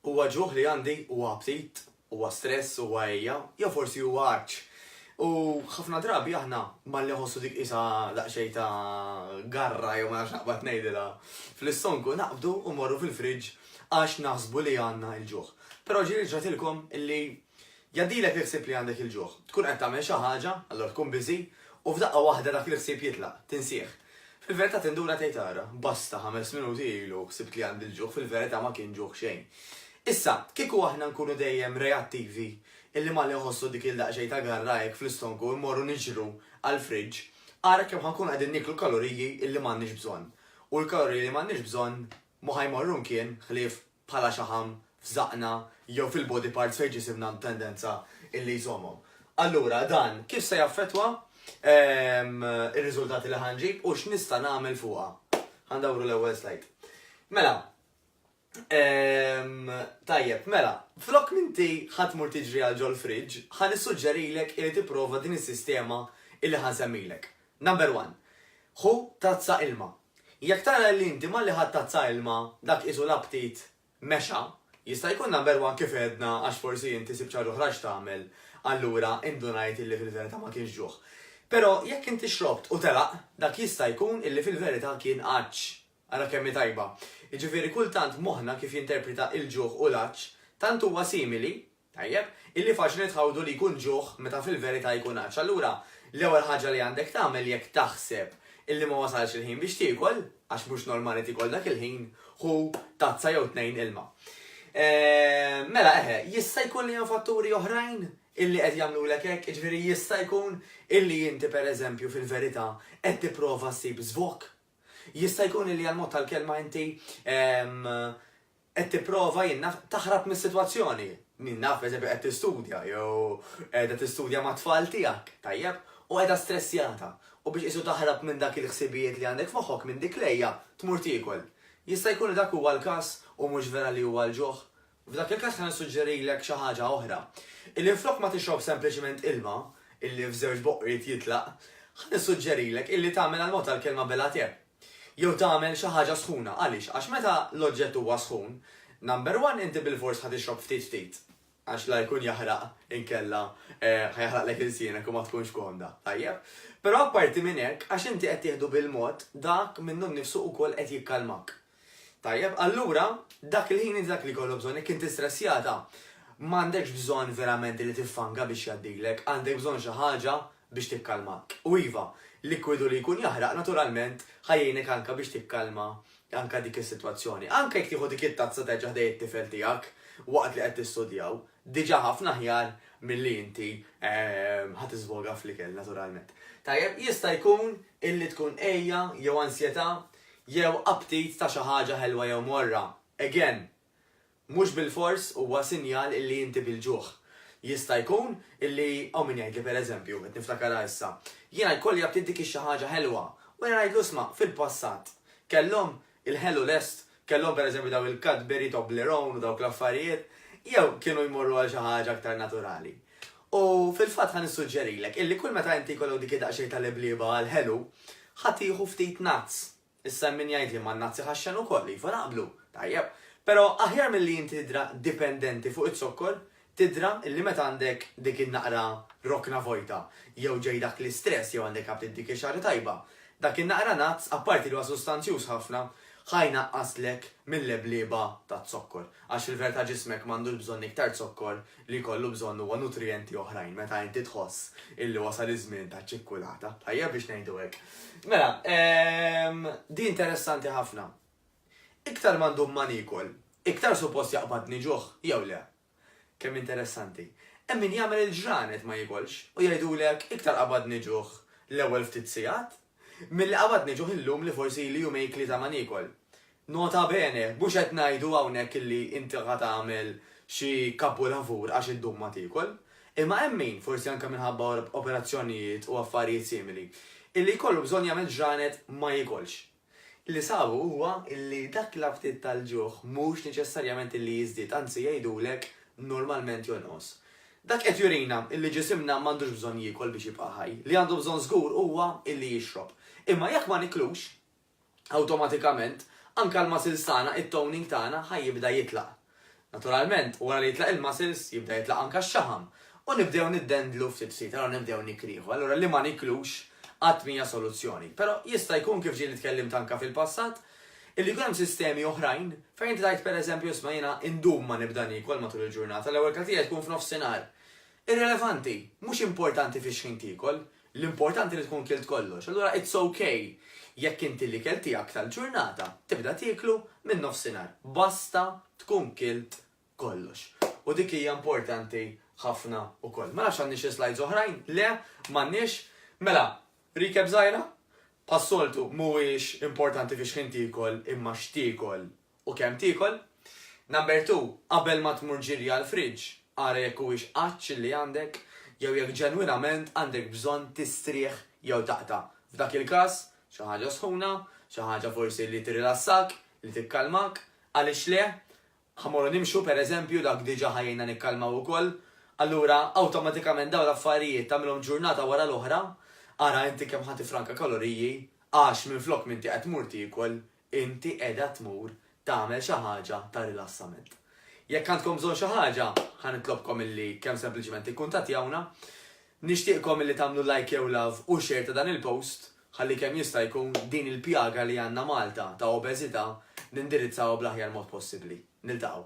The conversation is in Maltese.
Huwa ġuħ li għandi, huwa aptit, huwa stress, huwa għejja, jew forsi huwa għatx. U ħafna drabi aħna malli nħossu dik qisha daqsxejn ta' garra jew ma nafx naqbad ngħidilha, fl-istonku naqbdu u mmorru fil-fridge għax naħsbu li għandna l-ġuħ. Però ġieli ġratilkom li Jgħaddilek il-ħsieb li għandek il-ġuħ. Tkun qed tagħmel xi ħaġa, allura tkun busy, u f'daqqa waħda dak il-ħsieb jitlaq, tinsieh. Fil-verità tinduna tgħid ara, basta, ħames minuti ilu ħsibt li għandi l-ġuħ, fil-verità ma kien ġuħ xejn. Issa, kieku aħna nkunu dejjem reattivi, illi malli nħossu dik il-daqsxejn ta' garra hekk fl-istonku immorru niġru għall-friġġ, ara kemm ħa nkunu qegħdin nieklu kaloriji illi m'għandniex bżonn. U l-kaloriji li m'għandniex bżonn ma ħa jmorru mkien ħlief bħala xaħam f'żaqqna jew fil-body parts fejn ġisimna hemm tendenza illi jżommhom. Allura dan kif se jaffettwa r-riżultati li ħa nġib u x'nista' nagħmel fuqha. Ħa ndawru l-ewwel slide. Mela, tajjeb, mela, flok minti ħa tmur tiġri għal ġol-fridge, ħa nissuġġerilek illi tipprova din is-sistema illi ħa nsemmilek. Number one, Ħu tazza ilma. Jekk tara li inti malli ħadt tazza ilma, dak qisu l-aptit mexa, jista' jkun number one kif għedna għax forsi inti sibt xi ħaġa oħra x'tagħmel, allura indunajt illi fil-verità ma kienx ġuħ. Però jekk inti xrobt u telaq, dak jista' jkun illi fil-verità kien għatx. Ara kemm hi tajba! Jiġifieri kultant moħħna kif jinterpreta il-ġuħ u l-għatx, tant huwa simili, tajjeb, illi faċli nitħawdu li jkun ġuħ meta fil-verità jkun għatx. Allura, l-ewwel ħaġa li għandek tagħmel jekk taħseb illi ma wasalx il-ħin biex tiekol, għax mhux normali tiekol dak il-ħin, ħu tazza jew tnejn ilma. Eehm, mela eħe, jista' jkun li hemm fatturi oħrajn illi qed jagħmlulek hekk, jiġifieri jista' jkun illi inti pereżempju fil-verità qed tipprova ssib żvok Jista' jkun li għall-mod tal-kelma inti qed tipprova, jien naf, taħrab mis-sitwazzjoni. Min naf, pereżempju, qed tistudja jew qiegħda tistudja mat-tfal tiegħek, tajjeb, u qiegħda stressjata, u biex qisu taħrab minn dak il-ħsibijiet li għandek f'moħħok, minn dik l-għeja, tmur tiekol. Jista' jkun li dak huwa l-każ u mhux vera li huwa l-ġuħ? F'dak il-każ ħa nissuġġerilek xi ħaġa oħra. Illi mflok ma tixrob sempliċiment ilma, illi f'żewġ boqriet jitlaq, ħa nissuġġerilek illi tagħmel għal mod tal-kelma bella te. Jew tagħmel xi ħaġa sħuna. Għaliex? Għax meta l-oġġett huwa sħun, number one inti bilfors ħa tixrob ftit ftit. Għax la jkun jaħraq inkella ħa jaħraqlek ilsienek u ma tkunx komda. Tajjeb? Però apparti minn hekk, għax inti qed tieħdu bil-mod, dak minnu nnifsu wkoll qed jikkalmak. Tajjeb, allura dak il-ħin inti dak li jkollok bżonn, jekk inti stressjata, m'għandekx bżonn verament li tiffanga biex jgħaddilek, għandek bżonn xi ħaġa biex tikkalmak. U iva, likwidu li jkun jaħraq naturalment ħa jgħinek anke biex tikkalma anke dik is-sitwazzjoni. Anke jekk tieħu dik it-tazza terġa' ħdejn it-tifel tiegħek waqt li qed tistudjaw, Diġa ħafna aħjar milli inti ħa tiżvoga fl-ikel naturalment. Tajjeb, jista' jkun illi tkun għeja jew ansjetà jew aptit ta' xi ħaġa ħelwa jew morra. Again, mhux bilfors huwa sinjal illi inti bil-ġuħ. Jista' jkun illi hawn min jgħidli per eżempju, qed niftakarha issa, jiena jkolli aptit dik ix-xi ħaġa ħelwa u jiena ngħidlu isma' fil-passat kellhom il-ħelu lest, kellhom per eżempju dawn il-Cadbury, Toblerone u dawk l-affarijiet, jew kienu jmorru għal xi ħaġa aktar naturali. U fil-fatt ħa nissuġġerilek illi kull meta inti jkollok dik id-daqsxejn ta' leblieba għall-ħelu, ħa tieħu ftit nuts. Issa hemm min jgħid li man-nuts iħaxxen ukoll, iva naqblu, tajjeb. Però aħjar milli inti tidra dipendenti fuq iz-zokkor, Tidra illi meta għandek dik in-naqra rokna vojta, jew ġej dak l-istress jew għandek ħabtiet dik ix-xagħra tajba, dak in-naqra nuts, apparti li huwa sustanzjuż ħafna, ħa jnaqqaslek mil-leblieba taz-zokkor. Għax fil-verità ġismek m'għandux bżonn iktar zokkor, li jkollu bżonn huwa nutrijenti oħrajn meta inti tħoss illi wasal iż-żmien taċ-ċikkulata. Tajjeb biex ngħidu hekk. Mela, ehm, di interessanti ħafna. Iktar ma ndum ma niekol, iktar suppost jaqbadni ġuħ, jew le? Kemm interessanti. Hemm min jagħmel il-ġranet ma jiekolx u jgħidulek iktar qabadni ġuħ l-ewwel ftit sigħat, milli qabadni ġuħ illum li forsi ili jumejn tlieta ma niekol. Nota bene, mhux qed ngħidu hawnhekk illi inti ħa tagħmel xi kapulavur għax iddum ma tiekol. Imma hemm min, forsi anke minħabba operazzjonijiet u affarijiet simili, illi jkollu bżonn jagħmel ġranet ma jiekolx. Li sabu huwa illi dak l-aftit tal-ġuħ mhux neċessarjament illi jiżdied, anzi jgħidulek normalment jonqos. Dak qed jurina illi ġisimna m'għandux bżonn jiekol biex jibqa' ħaj, li għandu bżonn żgur huwa illi jixrob. Imma jekk ma niklux, awtomatikament, anke l-muscles tagħna, it-toning tagħna, ħa jibda jitlaq. Naturalment, wara li jitlaq il-muscles, jibda jitlaq anka x-xaħam. U nibdew niddendlu ftit ftit, allura nibdew nikrieħu. Allura li ma niklux qatt m'hija soluzzjoni. Però jista' jkun kif ġieli tkellimt anka fil-passat, illi jkun hemm sistemi oħrajn fejn inti tgħid pereżempju isma' jiena indum ma nibda niekol matul il-ġurnata, l-ewwel kla tiegħi tkun f'nofsinhar. Irrelevanti, mhux importanti fix-xħin tiekol, L-importanti li tkun kilt kollox, allura it's ok jekk inti l-ikel tiegħek tal-ġurnata tibda tieklu minn nofsinhar. Basta tkun kilt kollox. U dik hija importanti ħafna wkoll. Ma nafx għandni xi slides oħrajn? Le, m'għandniex. Mela, recap żgħira? Bħas-soltu mhuwiex importanti fi x'ħin tiekol imma x'tiekol U kemm tiekol? Number two, qabel ma tmur ġirja għall-fridge, ara jekk huwiex għatx li għandek jew jekk ġenwinament għandek bżonn tistrieħ jew taqta'. F'dak il-każ, xi ħaġa sħuna, xi ħaġa forsi li tirrilassakk, li tikkalmak, għaliex le? Ħa mmorru nimxu, per eżempju, dak diġa ħa jgħinna nikkalmaw ukoll. Allura, awtomatikament dawn l-affarijiet tagħmilhom ġurnata wara l-oħra, ara inti kemm ħa tifranka kaloriji għax minflok m'inti qed tmur tiekol, Inti qiegħda tmur tagħmel xi ħaġa ta' rilassament. Jekk għandkom bżonn xi ħaġa, ħa nitlobkom illi kemm sempliċement tikkuntattjawna. Nixtieqkom illi tagħmlu like jew love u share ta' dan il-post ħalli kemm jista' jkun din il-pjaga li għandna Malta ta' obeżità nindirizzawha bl-aħjar mod possibbli. Niltaqgħu.